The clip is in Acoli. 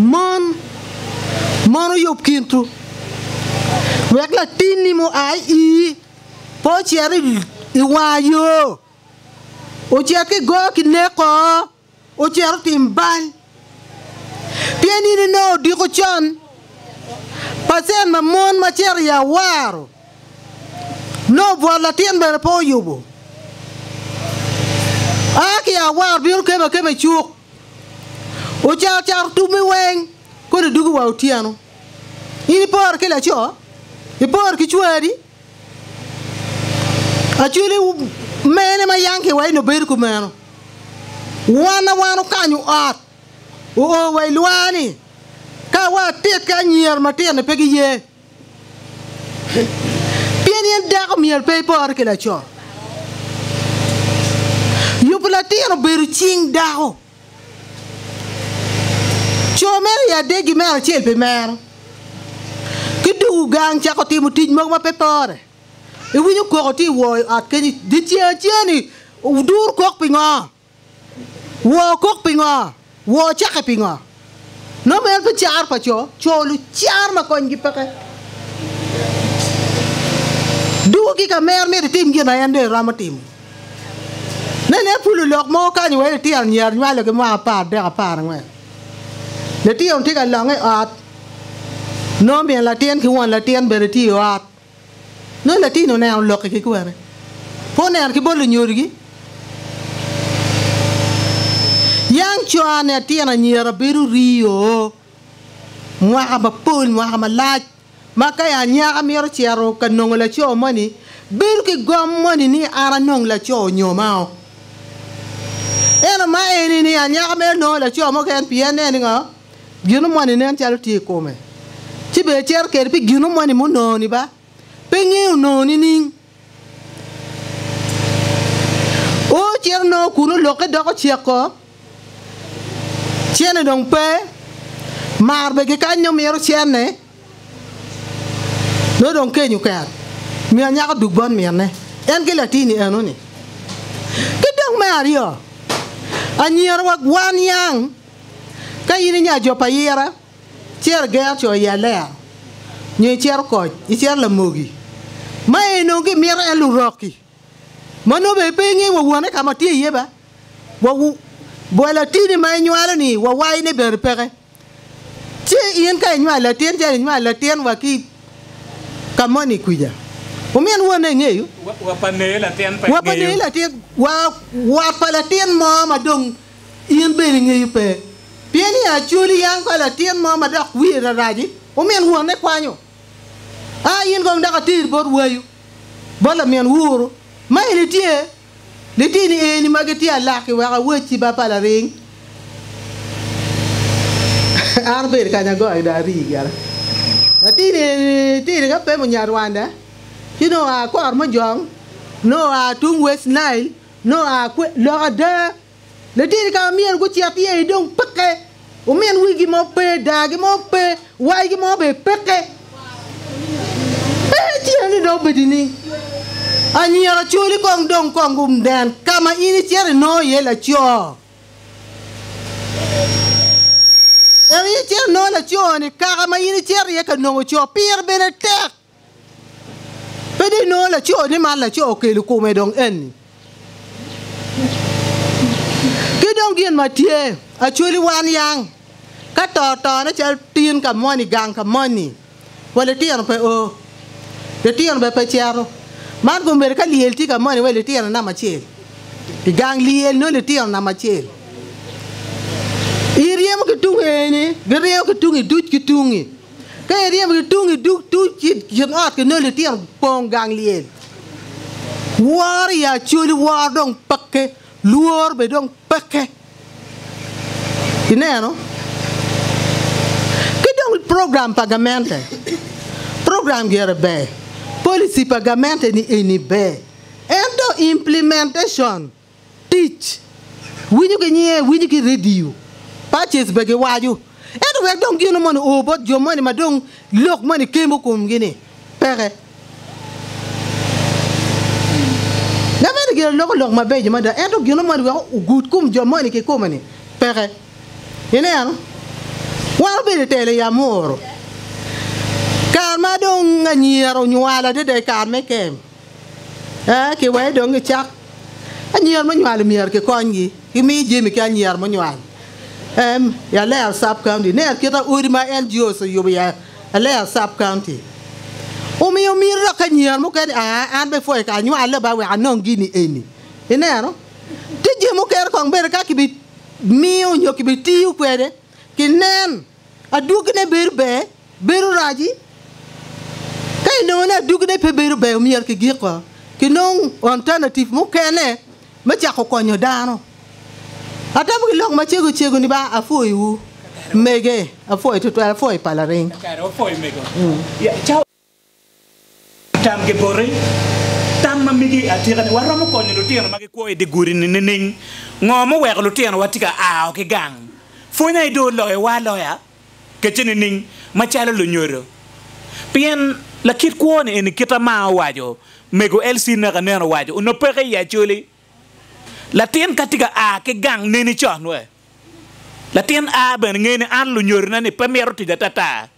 Mon, mon oyub kintu, wek latinni mua i ii pe ocit i wanga yo, ocit ki go ki neko, ocit otim bal. Pien in inongo odiko con pa cen ma mon ma cito i awaro. Lobo bwot latin bene pe oyubo. A ki awar bino kema akema i cuk, ocato cato tubbi weng kodi dugo wa otyeno. In ipore ki laco, ipore ki cwari, Acholi mene ma yangki wa eni obedo kumeno. Wan a wan okanyo ot, oo wa i lwar-ni, ka wa atit ki anyira matino pe giye. Pien in dako myel pe ipore ki laco, yubu latin obedo cing dako. Co meno i adegi me acel pi mero, ki tuku gang cako timo tic mogo ma pe pore. Iwinyo koko tye i wor ot kenyo, dyeceng acel-li, wuduru kok pingo? Woo okok pingo? Woo ocakke pingo? Nongo en pe caro pa co, co lucar ma konygi peke. Duu ki ka mer myero itim gin ma en dong iromo timo. Nen en pulu lok mo kany wa litino myero nywalo ki mwaka apar adek apar angwen. Litino tye ka longe i ot nongo min latin ki won latin bene tye i ot. Nongo latin-ni oneno lok i kikwete, pe oneno ki bolo nyodogi. Yang cone atyeno anyira bedo ryo mwaka mapol, mwaka malac, ma ka anyaka mito cito ka nongo laco moni, bedo ki gom moni ni an anong laco nyo mao. Ento ma eni-ni anyaka mito nongo laco mo keken pien ne ni ngo? Gino moni nen calo tye i kome, ci bene icito kwede pi gino moni munongo-ni ba pe ingeyo onongo nining? O cito nongo kun olokke doko ceko, cene dong pe, mar bene kikany nyo mito cene, nongo dong keny oket, omiyo nyako duk bot minne en ki latin-ni eno-ni. Ki dong me aryo, anyira wek wan yang. Ka in i nya jo pa yira, cer ger co i Alea, nyo icer okoc, icer lamogi. Ma eni onongo gimito en lurok-ki, ma nongo bene pe ingeyo wa wone ka ma tye iye ba, wa bwa latini ma inywalo-ni wa wayone bene peke. Ci in ka inywalo latin calo inywalo latin wa ki ka moni kwica, wumin wonne engeyo? Wa pa neyi latin pe engeyo? Wa pa neyi latin, wa wat pa latin mo ma dong In bene ingeyo pe? Pien i Acoli yang ka latin mo ma dok wiye rarac-ci, omin wonne kwanyo. A in kong dok ater bot wayu, bot lamin wuru, ma en etye litini eni ma gitye alaki wek awacci ba pa laring, An abedo kany agoyo dong arii gire. Latin eni tidi ka pemo Nyarwanda, ci nongo oa Kormojong, nongo oa tung West Nile, Nongo aa kwe? Lok ada, laditi ka ma myero gucit iye-ni dong peke, omin wigi mo pe, dargi mo pe, wacgi mo bene peke. Pe tye-ni dong obedo ni anyira ocoli kong dong kong gunen ka ma in icito inongo iye laco. En icito inongo laco-ni kaka ma in icito iye ka nongo co, pire bene tek. Pe dong inongo laco ni man laco okelo kume dong eni. Ki dong gin ma tye, actually wan yang ka to tone calo tin ka moni gang ka moni wa litino pe oo, litino bene pe cito. Man kong omyero ka lyel tye ka moni wa litino namba acel i gang lyel nongo litino namba acel. Iryemo ki tung eni giryemo ki tungi duc ki tungi. Ka iryemo ki tung i dug tuc ki i kin ot ki nongo litino pong gang lyel. Woro i acoli woro dong peke, lworo bene dong peke. Ineno? Ki dong program pa gamente, program gire ber, policy pa gamente-ni eni ber, ento implementation, Tic, Winyo ki nyiye, winyo ki redio. Paces bene giwaco. Ento wek dong gino moni o bot jo moni ma dong lok moni kemo komgi-ni, peke. Ngat meno gire loko lok mabeco mada, ento gino moni wek ogud kom jo moni kikome-ni, peke. Ineno? Wan obedo i telo i Amuru, kare ma dong anyira onywalo adada i kare me kem. Ee, ki wai dong i cak. Anyira munywalo myero kikonygi ki miyo jami ki anyira munywal. Em, i Alea Sub County, ine akita odi ma NGOs oyubo i Alea Sub County. Omiyo myero dok anyira mukene aa, an bene pwoya ka anywale ba wek anong gini eni. Ineno? Tye jami mukene kong bene ka kibimiyo nyo kibitiyo kwede, kinen. Adwogine bedo ber, bedo rac-ci? Ka inongo ni adwogine pe bedo ber, myero kigik woko, kinong alternative mukene me cako konyo dano. Atamo ki lok macego cego ni ba apwoyiwu mege, apwoyi tutwal, apwoyi pa laring. Tam ki boti. Tam ma migi atika ni, Waromo konyo lutino ma gikwo i dye gudi-ni nining? Ngo muweko lutinowa tye ka ao ki gang? Pwony aye dong oloyowa aloya kece nining? Macalo lunyodo. Pien lakit kwo-ni eni kita ma owaco, Mego Elsie naka nen owaco, onongo peke i Acholi. Latin ka tye ka a ki gang neni con wek latin a bene nge ni an lunyodona-ni pe mito tic atata.